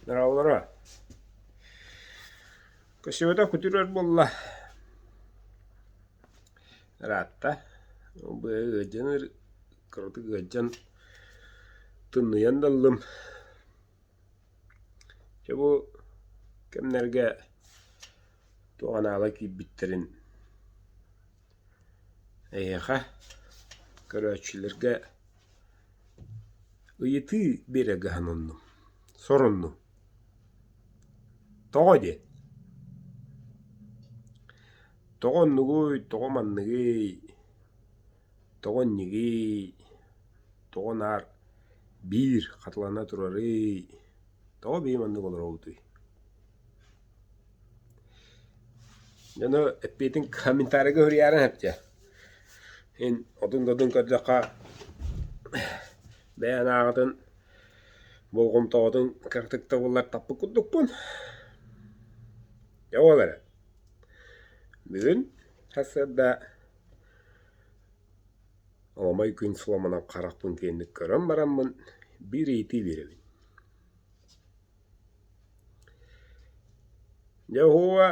Дороолоро, көсүөтэ күтүрэр буолла, ыраатта, ол быйа ыалдьан кыратык ыалдьан тымныйан да ыллым. Чэ бу кэмнэргэ туох анаала киирбиттэрин Эйиэхэ, көрөөччүлэргэ ыйытыы биэрэ көһөн оннум, соруннум. Тоҕо диэн, тоҕо оннугуй, тоҕо манныгый, тоҕо иннигий, тоҕо наар биир хатылана турарый, тоҕо бии маннык олоробутуй? Дьону эппиэтин комментарийга суруйаарыҥ сөпчө. Ин отун-додун көрдөххө бэйэ анааҕытын, болҕомтоҕутун кыратык да буллар таппыт курдукпун. Дьэ ол эрэ. Бүгүн сарсыарда Аламай күн суламанан харахпын киэҥник көрөн бараммын биир ыйытыы биэрэбин: Яһуа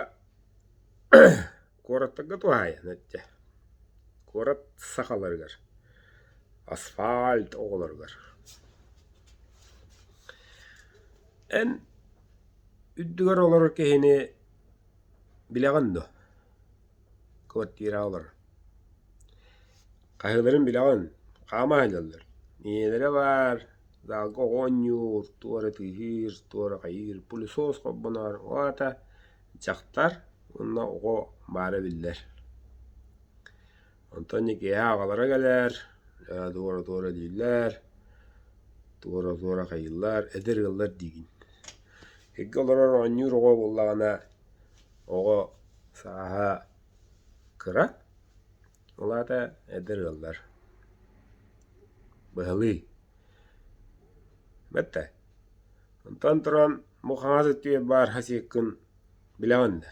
куораттарга туһаайан эттэ. Куорат сахаларыгар, асфальт оҕолоругар. Эн үрдүгэр олорор киһини билэҕин дуо? квартиралар хаһыыларын билэҕин хаама сылдьаллар ийэлэрэ баар залга оҕо оонньуур туора тыыһыыр туора хайыыр пылесос хоббоноор уота дьахтар уонна оҕо баара биллэр онтон ити киэһэ аҕалара кэлэр туора туора дииллэр туора туора хайыыллар эдэр ыаллар диигин икки олорор оонньуур оҕо буоллаҕына Оҕо сааһа кыра, ол аата эдэр ыаллар. Быһылыы. Бэтэ, онтон туран бу хаҥас өттүгэр баар хасиыккын билэҕин да,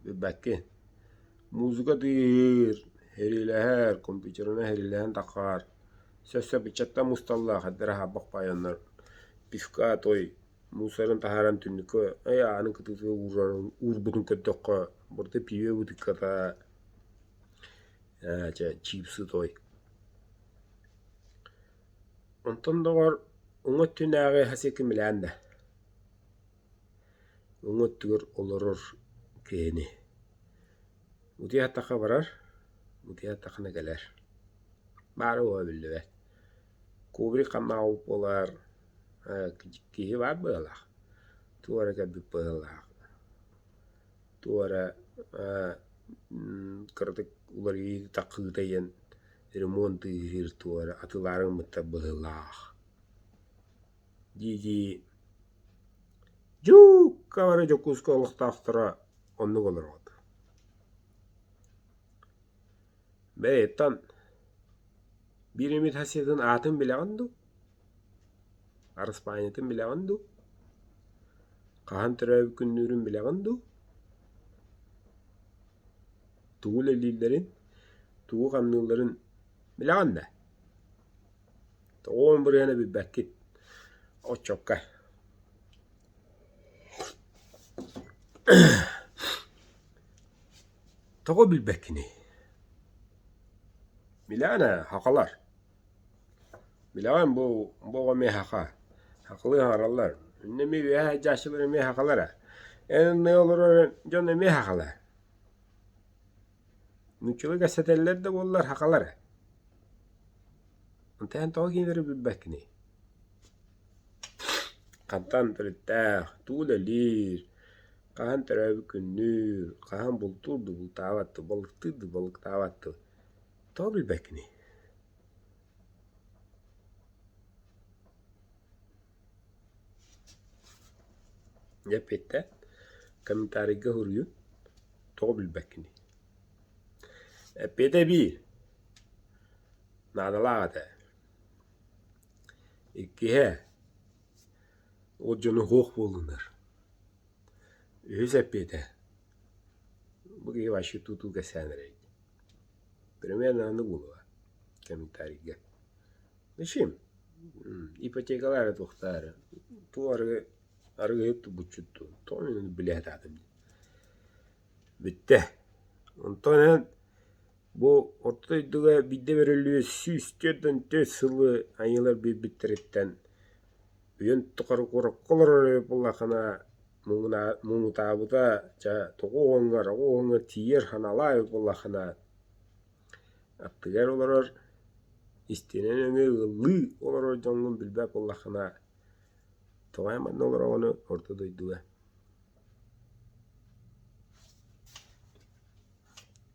билбэккин. Музыка тыыһыыр, сэриилэһэр, компьютерынан сэриилэһэн таххаар, сөпсөп ыччаттар мусталлар, эдэр аһаабах байоннор, пивка, той. мусорун таһааран түннүккэ эй аанын кытыытыгар уурарын уурбутун көрдөххө бырды пиве бытыкката ээ чэ чипсы той онтон доҕор уҥа өттүнээҕи иһэ сиэкимилээн да уҥа өттүгэр олорор киһини утуйа сатахха барар утуйа сатаххына кэлэр баара-буола биллибэт Кубрик хамаау буолар киһи баар быһыылаах, туора кэлбит быһыылаах, туора кыратык уларыйыы такыы тайан ремонтыыр туора атыылаары гыммыттар быһыылаах. дии-дии дьукка бары Дьокуускай олохтоохторо оннук олороот Бэйэттэн биир эмит сасыытын аатын билэҕин дуу? Араспаанньатын билэҕин дуу? Хаһан төрөөбүт күннүүрүн билэҕин дуу? Тугу үлэлииллэрин, тугу хамныылларын билэҕин да? Тоҕо ырыаны билбэккит? Оччокко Тоҕо билбэккиний? Милана, хахалар. Билэҕин бу бу оҕо эмиэ хаха. Хахалыы аҥараллар. Иннэ эмиэ үөһэ дьааччылар эмиэ хахалара. Эн ынна олорор дьон эмиэ хахалар. Нууччалыы кэпсэтэллэр да буоллар хахалара. Онтон эн тоҕо кинилэри билбэккиний? Хантан төрүттээх, тугу үлэлиир, хаһан төрөөбүт күннүүр, хаһан бултуур да бултаабаттыы, балыктыыр да балыктаабаттыы тоҕо билбэккиний? Эппиэттэн комментарийга суруйун тоҕо билбэккиний? Эппиэтэ биир наадалаах этэ Иккиһэ, ол дьоно суох буоллунар. Үһүс эппиэтэ, бу киһи вообще тутуу кэсээн эрэй. Примерно аны буолуо комментарийга. Мичим, ипотекалаары туохтаар туох арыгы арыгыһыт тубуччуттуу тоҕо мин ону билэ сатаатым диэн. Бүттэ. Онтон эн Бу орто дойдуга биирдэ бөрөлүү сүүс түөрт уон төрт сылы айыылар биэрбиттэриттэн үйэн тухары куоракка олорор эрэ буоллаххына муҥунаа- муҥутаабыта ча тоҕу уһуҥар оҕо уһуҥар тиийэр аналаах эбит буоллаххына аттыгар олорор истиэнэн эмиэ ыаллыы олорор дьоҥҥун билбэт буоллаххына тоҕо манна олороҕуну орто дойдуга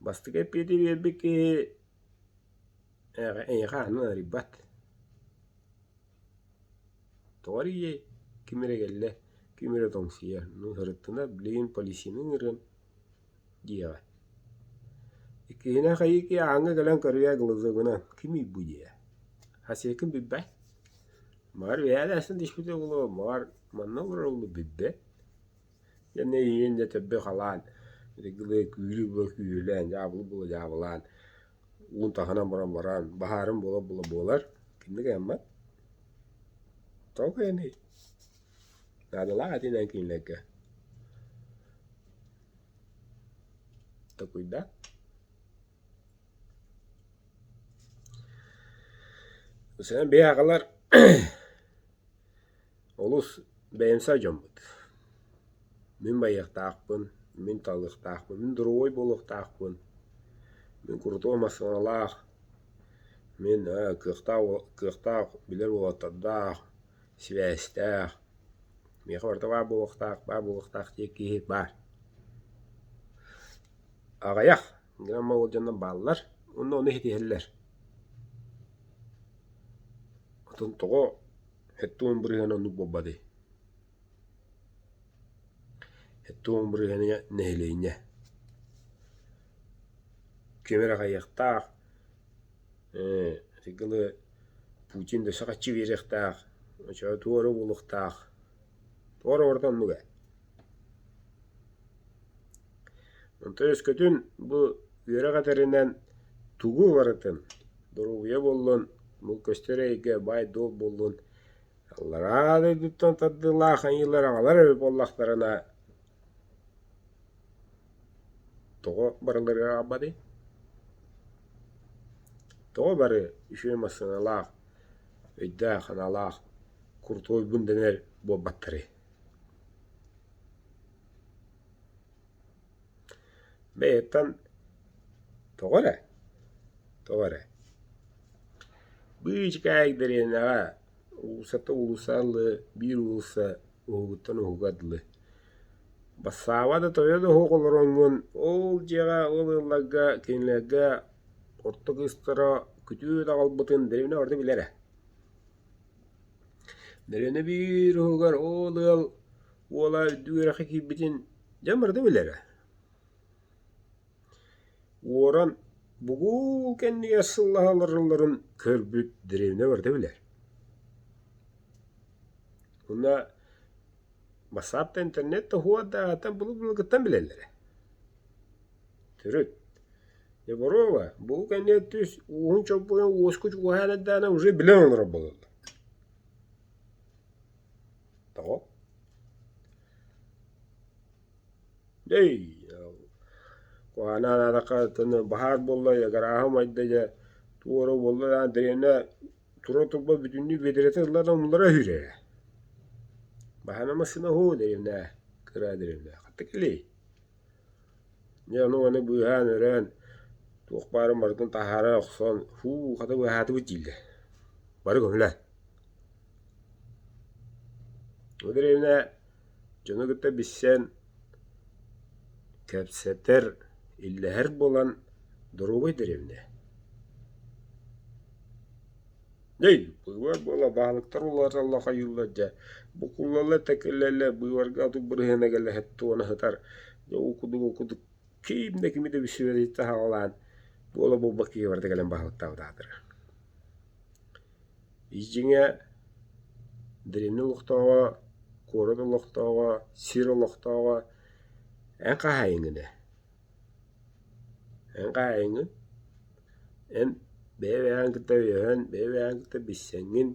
Бастакы эппиэти биэрбит киһи эйиэхэ аны арыйбат. Тоҕо эрийиэй, ким эрэ кэллэ, ким эрэ тоҥсуйар. Ну, сырыттына билигин полисины ыҥырыам диэҕэ. Иккиһинэн хайыки ааҥҥа кэлэн көрүйэ глаза гынан кимий бу диэ. Хас ийэкин билбэт. Маҕар үһээлээстэн түспүтэ буолуо, маҕар манна олорор уолу билбэт. Дьэн эйиэн дьэ төрдө халаан, күүлү-була күүлүлээн, дьаабылы була дьаабылаан, уун таһынан баран баран, баһаарын була-була буолар, кинигэ аммат. Тоҕо эний? Наадалаах этинэн кинилэргэ. Такуйда. Сэнэн бэйэ агалар Олус бэйэм сай дьоммут. Мин байыахтаахпын, мин талыахтаахпын, мин дворовой буолуохтаахпын, мин курутуой массыыналаах, мин ээ кыахтаах уол кыахтаах билэр уолаттардаах, сибээстээх, миэхэ барыта баар буолуохтаах, баар буолуохтаах диэн киһи баар. Аҕыйах грамм ыалдьаннар бааллар уонна ону ситиһэллэр. Отон тоҕо Эттэ уон бырыһыана оннук буолбат дии. Эттэ уон бырыһыаныҥа нэһилиэнньэ. Ким эрэ аҕыйахтаах, ээ арыгылы Путин өссө хаччы биэриэхтээх, оччо туора буолуохтаах. Туора барыта оннук ээ. Онтон өскөтүн бу үөрэх этэринэн тугу барытын доруобуйа буоллун, мул көстөр эйгэ, баай-дуол буоллун аллараа дойдуттан тардыылаах айыылар аҕалар эбит буоллахтарына тоҕо барыларыгар аҕалбатый? Тоҕо бары үчүгэй массыыналаах, өйдөөх-санаалаах куртуойбун дэнэр буолбаттарый? Бэйэттэн тоҕо эрэ, тоҕо эрэ быычыкаайык дэриэнэҕэ уулуссата уулусса ыллыы, биир уулусса уһугуттан уһуга дылы. Бассааба да тойон оһуох олороҥҥун ол дьиэҕэ ол ыалларга кинилэргэ орто кыыстара күтүөт аҕалбытын дэриэбинэ барыта билэрэ. Дэриэбинэ биир уһугар ол ыал Уола үрдүк үөрэххэ киирбитин дьэ барыта билэрэ. Уоран бугул кэннигэр сыллаһа олороллорун көрбүт дэриэбинэ барыта билэр. Уонна бассаапта интернет тоһуо да атын былыр-былыргыттан билэллэрэ. Төрүт. Дьэ боруоба бугул кэннигэр түс ууһун чоппуйан уоску чугаһаан эрдэҕинэ уже билэн олорор буолаллар. Тоҕо? Эй, куһаана анаатахха баһаар буолла ыгырааһы умайда дьэ туора буолла даҕаны дэриэнэ тура турбат бүтүннүү бүөтэрэтэн ылла да умулара үһү ээ. Баһана массыына оһоо дэриэнэ кыра дэриэнэ хатта кэлиэй Дьэ ону уону быыһаан-өрөөн, туох баарын барытын таһаара охсон, һуу, хата быыһаатыбыт дииллэр. Бары көһүнэ. Бу дэриэбинэ дьону кытта билсэн, кэпсэтэр, иллэһэр буолан, доруобай дэриэбинэ. Эй, быыбар буола баһылыктар улааталла хайыыллар дьэ, букулала-такылала быыбарга отук бырыһыанагылаһыт туона сытар, дьэ уу кудугу-кудук ким да кими да билсибэтиттэн саҕалаан буола буолбакка киһибарда кэлэн баһылыктаабыт аатырар Иждиҥэ древний олохтооҕо, куорат олохтооҕо, сир олохтооҕо эн хаһаайыҥ ини? Эн хаайыҥҥын, эн бэйэ-бэйэҕин кытта өйөһөн, бэйэ-бэйэҕин кытта билсэҥҥин,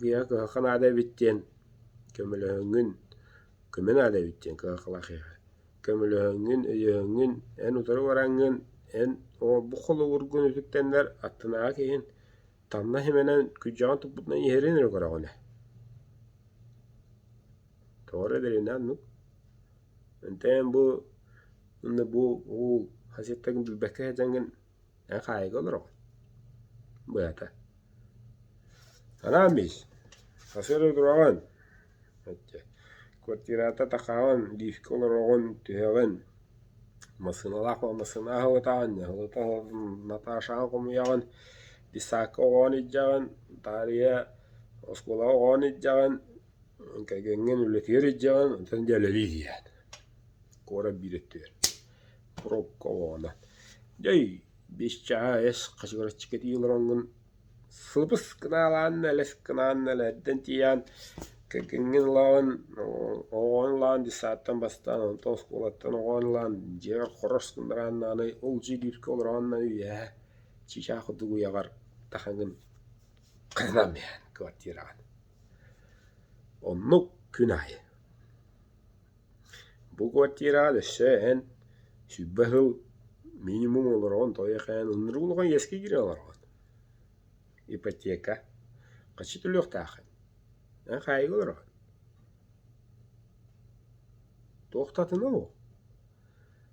кыйаҕа кыһахха наада эбит диэн көмөлөһөҥҥүн, көмө наада эбит диэн кыһаххалаһыаҕа. Көмөлөһөҥҥүн, өйөһөҥҥүн, эн утары бараҥҥын, эн оҕолорбут холобургун үтүктэннэр аттынааҕы киһин таҥнас имэнэн күрдьэҕин туппутунан иһэрин эрэ көрөҕүнэ. Toҕо эрэ дэлинэн ну ынтыам бу ынна бу уу хас эртэгин билбэккэ сылдьаҥҥын эн хаайыга олороҕун быһата анаан биз сарсыарда тураҕын отче квартирата такаҕын лифкэ олороҕун түһэҕин массыыналаах массыына аһылытаҕын аһылыта наташаҕа хомуйаҕын писаакка оҕоҕун илдьэҕин таарыйа оскуолаҕа оҕоҕун илдьэҕин Кэргэҥҥин үлэтигэр илдьэҕин, онтон дьиэлэригэр иһийэҕин. Куорат биир өттүгэр пробка оҕоҕунан. Дьэй, биэс чааһа эс, хачыгыраччы кэтии олороҥҥун. Сылбыс гынаалаанна, элэс гынаанна, элээрдэн тиийээн кэргэҥҥин ылаҕын, оҕоҕун ылаҕын детсадтан бастаан, онтон оскуолаттан оҕоҕун ылаҕын, дьиэҕэр хорос гыннарааннаҕына олдьуй дииргэ олороҕунна үөһэ чыычаах курдук уйаҕар тахаҥын кыһанан иһэн квартираҕын. Оннук күн аайы бу квартираҕа өссө эн сүүрбэ сыл минимум олороҕун тоҕо-эхээн ынырык улахан иэскэ киирэн олороҕун. Ипотека хаччы төлүөхтээххин эн хаайга олороҕун. Туохтатына ол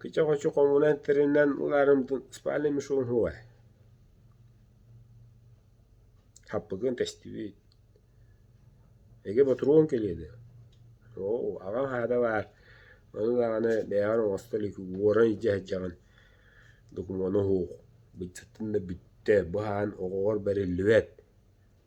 Кыча хочу хомунан тэринэн улаарымтын спальный мешугун хугай хаппыкыын тэстибит эгэ ботуруон кэлиэдэ оо аҕам аһаата баар ону даҕаны бэйэҕэр оҥосто илик уоран илдьэ сылдьаҕын докумуону уһуух быччаттан да бүттэ бу аһаан оҕоҕор бэриллибэт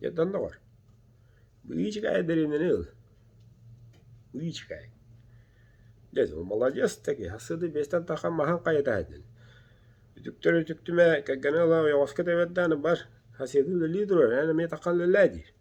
Дьадан доҕор, бу иичикай дэриэнэни ыл. Иичикай. Дьэ, маладьыас да киһи, сыды биэстэн тахан маһын хайытаһытын. Үтүктөр үтүктүмэ, кэргэнэ ыла ойоҕоско тэбэрдээн бар, хасыйытыы үлэлии турур, эн эмиэ тахан үлэлээ диир.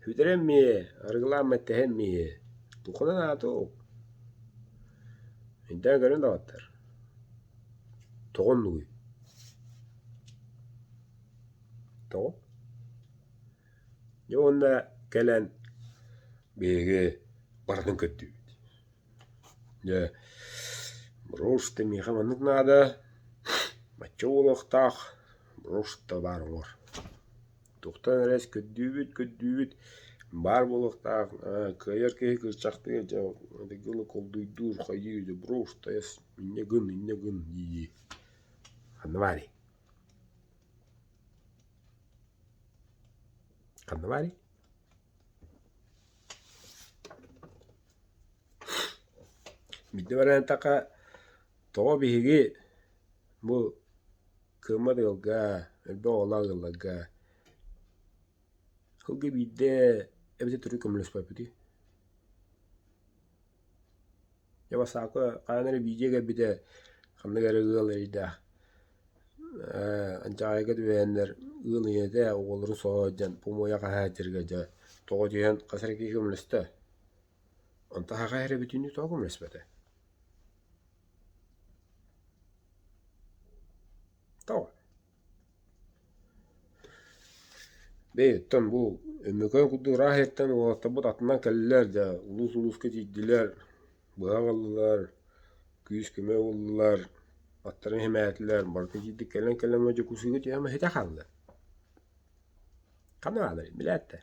Бүтэрэ эмиэ, арыгылаан мэттэһэ эмиэ, буканан аатык. Эйдээн көрөн даҕаттар, тоҕо оннугуй? Тоҕо? Дьэ уонна кэлэн биһиги барытын көрдүбүт. Дьэ брошта миэхэ маннык наада, бачча уолуохтаах, брошта баар уҥуор Туохтан эрэ өскөттүүбүт, көрдүүбүт, баар буолуохтаах, кыайар киһи кыысчахтыгар дьэ колдуйдуур, хайыы заброшенная инньэ гын, инньэ гын дии-дии ханна баарый? Ханна баарый? Биирдэ баран эттэххэ тоҕо биһиги бу Кыыммат ыалга, элбэх оҕолоох ыалларга сылга биирдэ эбэтэр төрүт көмөлөспөппүтүй? Дьэ бассаапка хаһан эрэ биирдэ кэлбитэ ханнык эрэ ыал эрэйдээх ээ Анчаҕайга түбэһэннэр ыал ийэтэ оҕолорун соһо сылдьан помойо хаһаайыттарга дьэ тоҕо дьиһэн хас эрэ киһи көмөлөстө Онто аһаҕай эрэ бүтүүнү тоҕо көмөлөспөтө Тоҕо? Бэйэттэн бу Өмөкөөн курдук ыраах эртэн уолаттарбыт атынан кэллилэр да улуус-улууска тиийдилэр, быһа ыллылар, күүс-көмө ыллылар, аттарын иһимээтилэр, барыта тиийдик кэлэн-кэлэн дьокуусуйга түһэ маһыта хааллылар. Ханна баалларый, билээттэр?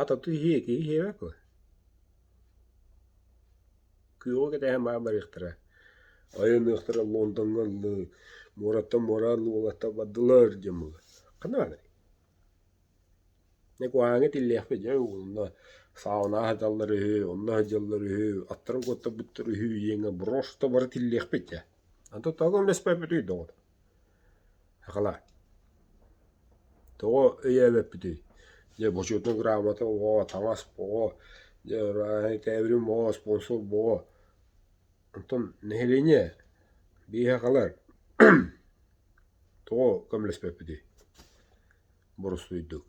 Ат оту иһиэ ити иһиэбэккэ күөҕү кэтэһэн баар барыахтара айанныахтара Лондоҥҥа ыллыы муораттан муораан уолаттар бардылар диэн буолла ханна барарый дьэ куһаҕаҥҥа итиллиэхпит дьэ онно сауна сыталлар үһү онно сылдьаллар үһү аттарын куоттарбыттар үһү диэҥҥэ брошта бары тиллиэхпит дьэ аны тоттооҕу өҥнөспөппүтүй доҕор Акала, тоҕо өйөөбөппүтүй? Дьэ бочуотунай грамота оҕо, таҥас оҕо, дьэ тээбирин оҕо, спонсор оҕо. Оттон нэһилиэнньэ биһиэхэ хаалар тоҕо көмөлөспөппүтүй боростуойдук?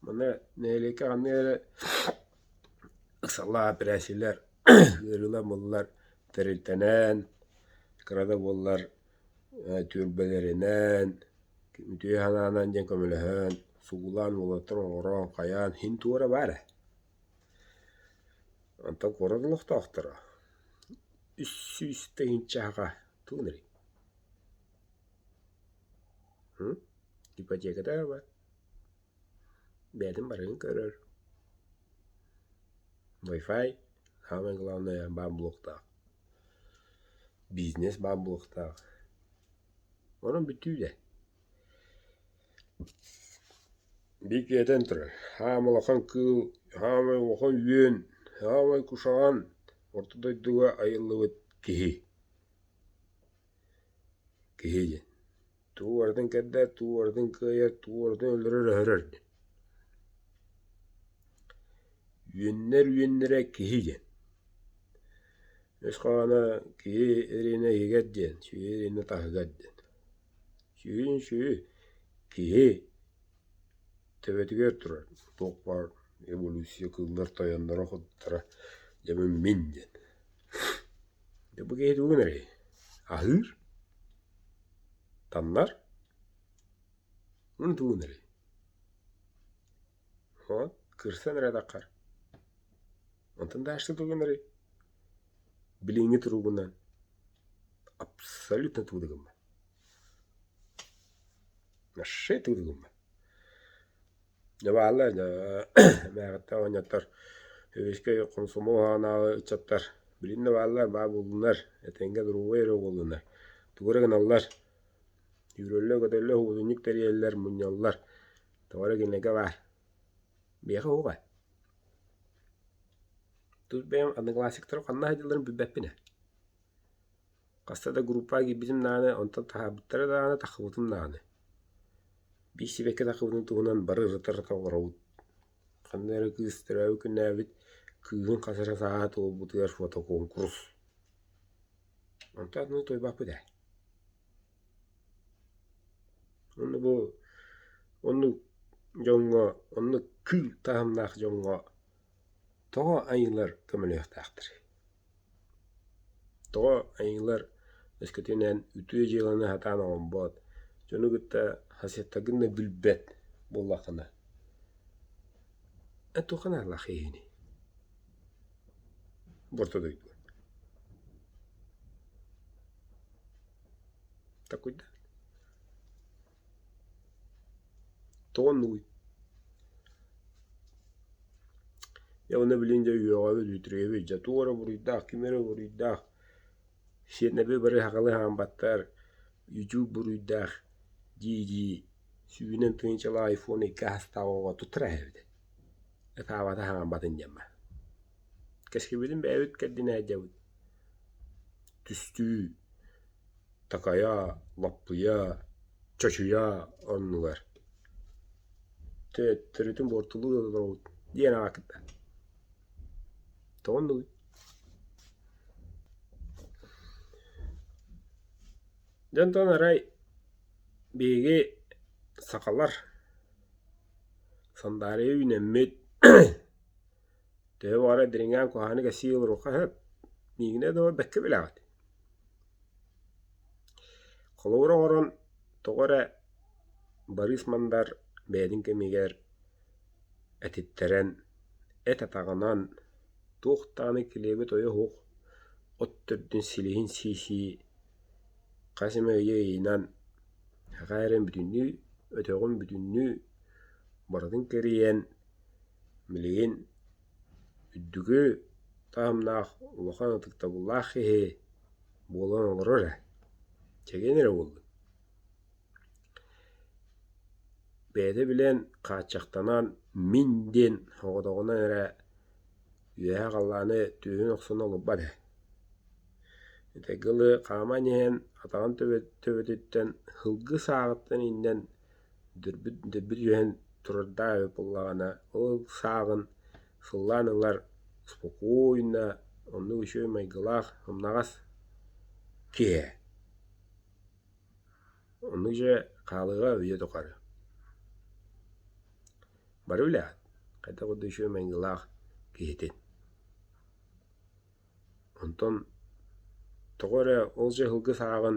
Манна нэһилиэккэ ханнык эрэ Салаа бирээсилэр ыарыылар муллар тэрилтэнэн, кыра да буоллар түөлбэлэринэн, үтүө санаанан диэн көмөлөһөн, сугулаан уолаттарын оҥорон, хайаан иһин туора баар ээ. Онтон куорат олохтоохторо үс сүүс тыһыынча чаһаҕа туунарый? Ипотеката баар. Бэйэтин барыгын көрөр Wi-Fi самое главное баар блоктаах бизнес баар блоктаах онон бүттүү дэ бииркиэтэн турар саамай улахан кыыл саамай улахан үөн саамай кушаан орто дойдуга айыллыбыт киһи киһи диэн Туу уратыҥ кэрдээт, туу уратыҥ кыайар, туу уратыҥ өлөрөр-өһөрөр. Үөннэр үөннэрэ киһи диэн. Өс хаана киһи ириэнэ иһигэр диэн, сүөһү ириэнэ таһыгар диэн. Сүөһүн сүөһү, киһи төбөтүгэр турар буквар, эволюция кыыллар тойонноро куттара дьэбин мин диэн. Бу киһи тугун эрэй? Аһыыр? Таннар? Мундугун эрий. Вот, көрсөн эрэ атаххар. Онтон дальше тугун эрий. Билиҥҥи туругунан абсолютно тугу да гыммат. Вообще тугу да гыммат. Дьабааллаан мээҕиттэн оонньоттор сэбиэскэй хомсомуолунааҕы ыччаттар билигин да бааллар баа буллунар этэҥҥэ доруобай эрэ оҕоллонор тугу эрэ гыналлар үүрүллэр көтөллөр уутунньук тэрийэллэр мунньаллар тоҕоро кинигэ баар биһиэхэ уҕа тус бэйэм одноклассниктарым ханна сылдьалларын билбэппин ээ Хаста да группаҕа киирбитим даҕаны, онтон таһаарбыттара даҕаны, тахсыбытым даҕаны. Биир-сибэкки тахсыбытын туһунан бары ырытар-ырытар олоробут. Ханна эрэ кыыс төрөөбүт күннээбит кыыһын хас эрэ сааһа туолбутугар фотокуонкурус. Онтон аны утуйбаппыт ээ. Онно бу оннук дьоҥҥо, оннук кыыл таһымнаах дьоҥҥо тоҕо айыылар көмөлөһүөхтээхтэрий? Тоҕо айыылар өскөтүнэн үтүө дьыаланы сатаан оҥорбот, дьону кытта соседтаргын да билбэт буоллаххына, эн туохха наадалаах иһиний? Бу орто дойдуга. Такуйда. Тоҕо оннугуй? Дьэ уонна билигин дьэ үөҕэбит, үтүрүйэбит, дьэ туох эрэ буруйдаах, ким эрэ буруйдаах, сиэнэби бары сахалыы хаампаттар, YouTube буруйдаах дии-дии сүүнэн тыһыынчалаах айфон икки саастаах оҕоҕо тутара эбит. Ытаабата хаамбатын диэн бар. Кэскилбитин бэйэбит кэрдинэ сылдьабыт. Түстүү. такайаа, лаппыйаа, чочуйаа оннулар төттөрүтүн буортулуу да толоробут диэн аҕа кытта тоҕо оннугуй дьэ онтон арай биһиги сахалар сандаарыйа үүнэммит Төһө баҕарар дириҥээн куһаҕаны кэсии олоруохха сөп, миигинэ да бэккэ билэҕит. Холобура оҥорон тоҕо эрэ Барыыс Мандар бэйэтин кэмигэр этиттэрэн, эт атаҕынан туох даҕаны килиэби тойо суох от төрдүн силиһин сии-сии хас эмэ өйө-өйүнэн саха эрэн бүтүннүү, өтөҕүн бүтүннүү барытын кэрийэн Билигин үрдүкү таһымнаах улахан ытыктабыллаах киһи буолан олорор ээ, чэгиэн эрэ буоллун. Бэйэтэ билэн хааччахтанан «мин» диэн оҕотоҕунан эрэ үөһэ-халлааны түөһүн охсон олорбот ээ. Этэҥҥэ ылы хааман иһэн атаҕын төбөтүттэн, һылгы сааҕыттан иҥнэн Дүрбүт дүрбүт үөһэн турардаах үһү буоллаҕына, ол сааҕын сыллаан ылар спокойно, оннук үчүгэй майгылаах, умнаҕас киһи. Оннук дьэ хаалыыга үйэ тухары. Бары билэҕит хайдах да үчүгэй майгылаах киһитин. Онтон тоҕо эрэ ол дьэ ыһылгы сааҕын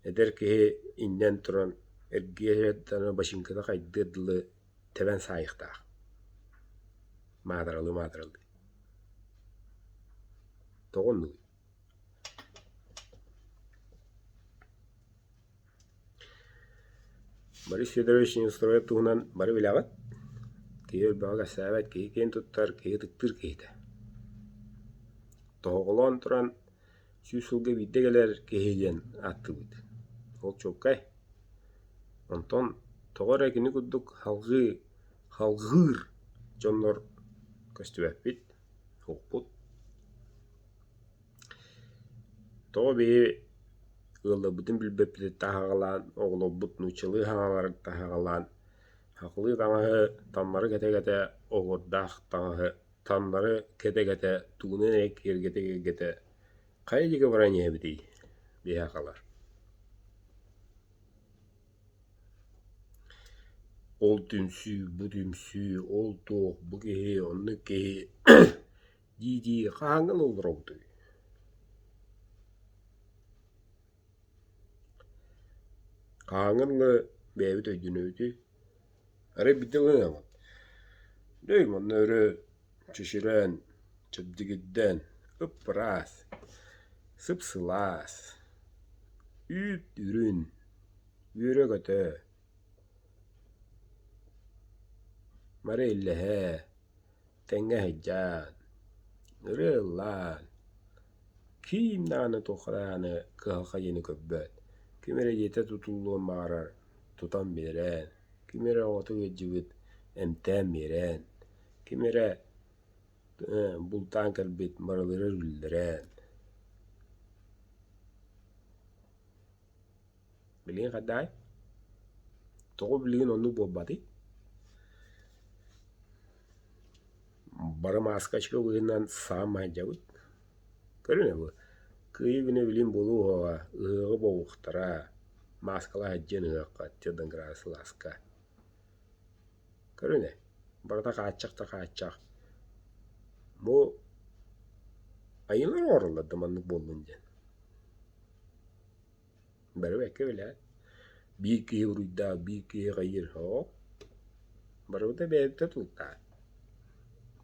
Эдэр киһи иҥнэн туран эргиэ-дьаһайа бачыыҥката хайдыар дылы тэбэн саайыахтаах маатыралыы-маатыралыы тоҕо оннугуй Борис Федорович Неустроев туһунан бары билэҕит киһи өлбөҕө кэпсээбэт киһи киэн туттар киһи ытыктыыр киһитэ тоһоҕолоон туран сүүс сылга биирдэ кэлэр киһи диэн ааттыыбыт. Ол чуолкай. Онтон тоҕо эрэ кини курдук халҕыы, халҕыыр дьоннор көстүбэппит, укпут. Тоҕо бэйи ыалларбытын билбэппит таһаҕалаан, оҕолорбут нууччалыы хаҥалары таһаҕалаан, хахылыы таҥаһы, таммары кэтэ-кэтэ оһуордаах таҥаһы Таммары кэтэ-кэтэ, тугунан эрэ киэргэтэ-киэргэтэ хайа диэки баран иһэбитий? Биһэ хаалар Ол түмсүү, бу түмсүү, ол туох, бу киһи, онно киһи дии-дии хаһааҥҥан олоробутуй? Хааҥҥын ыла бэйэбит өйдөнөбүтүй? Арай биирдэ ылынаҕыт. Дьэ манна өрө чэчирээн, чэбдигирдээн, ып-ыраас, сып-сылаас, үүт үрүн, үөрэ-көтө, мары иллэһэ. Тэҥҥэ сылдьан, ырыа ыллаан, киим даҕаны туохха даҕаны кыһалҕа көрбөт, ким эрэ дьиэтэ тутуллуон баҕарар тутан биэрэн, ким эрэ оҕото ыалдьыбыт эмтээн биэрэн, ким эрэ бултаан кэлбит барыларын үллэрэн Билигин хайдаай? Тоҕо билигин оннук буолбатый? Бары маскачка быһыытынан саамай дьабыт. Көрүнэ бу, кыайыы-күнэ билигин буолуо уһуоҕа, ыһыаҕы буолуохтара, мааскалаах һэддьиэн ыһыахха, Jordan Grass Ылааска. Көрүнэ, барыта хааччах да хааччах. Бу айыылар оҥороллор да маннык буоллун диэн. Бары бэккэ билээт, биир киһи буруйдаах, биир киһи хайыыр оһоҕо, барыбыта бэйэбитэ тултаат,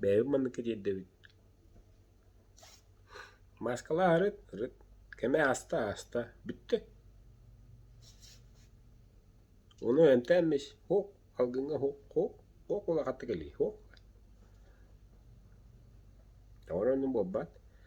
бэйэбит манныкка тиэрдэбит. Мааскалаах ырыт, ырыт, кэмэ ааста, ааста, бүттэ. Ону эмтээн эмис, һук, алгыҥҥа һук, һук, һук улахатык илий, һук. Ону буолбат.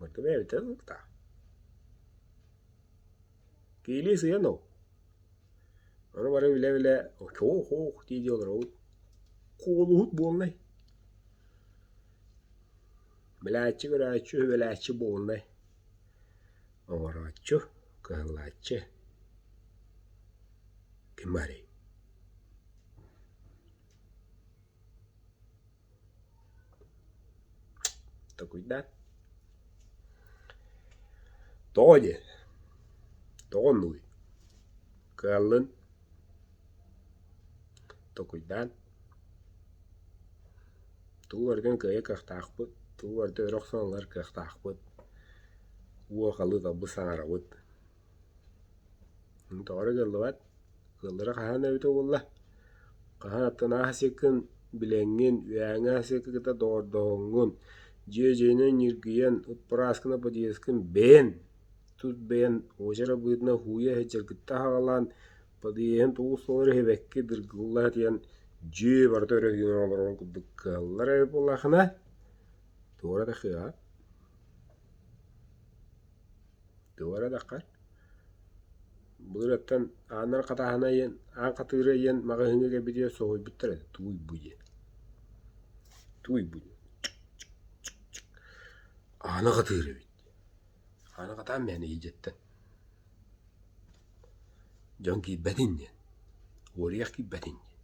Миккимэ эбитэ ыллыктаа Киилии сыйан ол Ону-бары билэ-билэ очоох-ох дии дии олоробут Куолуһут буолнай Билээччи көрөөччү үбүлээччи буолнай Оҥорооччу кыһаллааччы Ким арый Токуйдаат, тоҕо дии, тоҕо нуй? Кыаллын, токуйдаан, тугу барытын кыайар кыахтаахпыт, тугу барыта өрө охсон ылар кыахтаахпыт, уо халыыталбыт саҥарабыт Доҕоро дьаллыбат, ыаллара хаһан эбитэ буолла? Хаһан аттынаа сасыаккын, билэҥҥин, үһээҥҥи сасыакка кытта доҕордоһуҥҥун, дьиэ-дьиэнэн ньиргийэн, ыппырааскына подъезкын бэйэн, тус бэйэн уочар быһыытынан һууйа иһитиннэр кытта аһаҕалаан, подъеһын тоҕус толору иһибэккэ дыргылла сатыйан, дьиэ барыта өрө сүүрэн олорор курдук кыаллар эбит буоллаххына, туора да кыаҕа. Туора даха былырыттан ааннара хатааһына иһин аан хатыыра иһин маҕаһыыҥҥа кэлбитигэр соһуйбуттар этэ тууйбу диэн тууйбу диэн аана хатыыр эбит аана хатаан мээнэ иһдьэттэн дьон киирбэтин диэн уоруйах киирбэтин диэн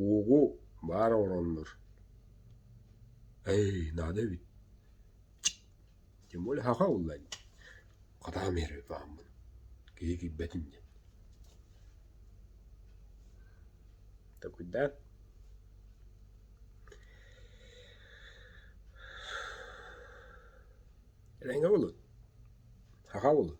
уоҕу баар оҥороннор ээй наада эбит Тим ол эһиэхэ ыллаан дии, хатаҕым иһирэ ытаһаммын, киһи киирбэтин диэн Такуйдаан эрэҥҥэ буолуой? Саха буолуой?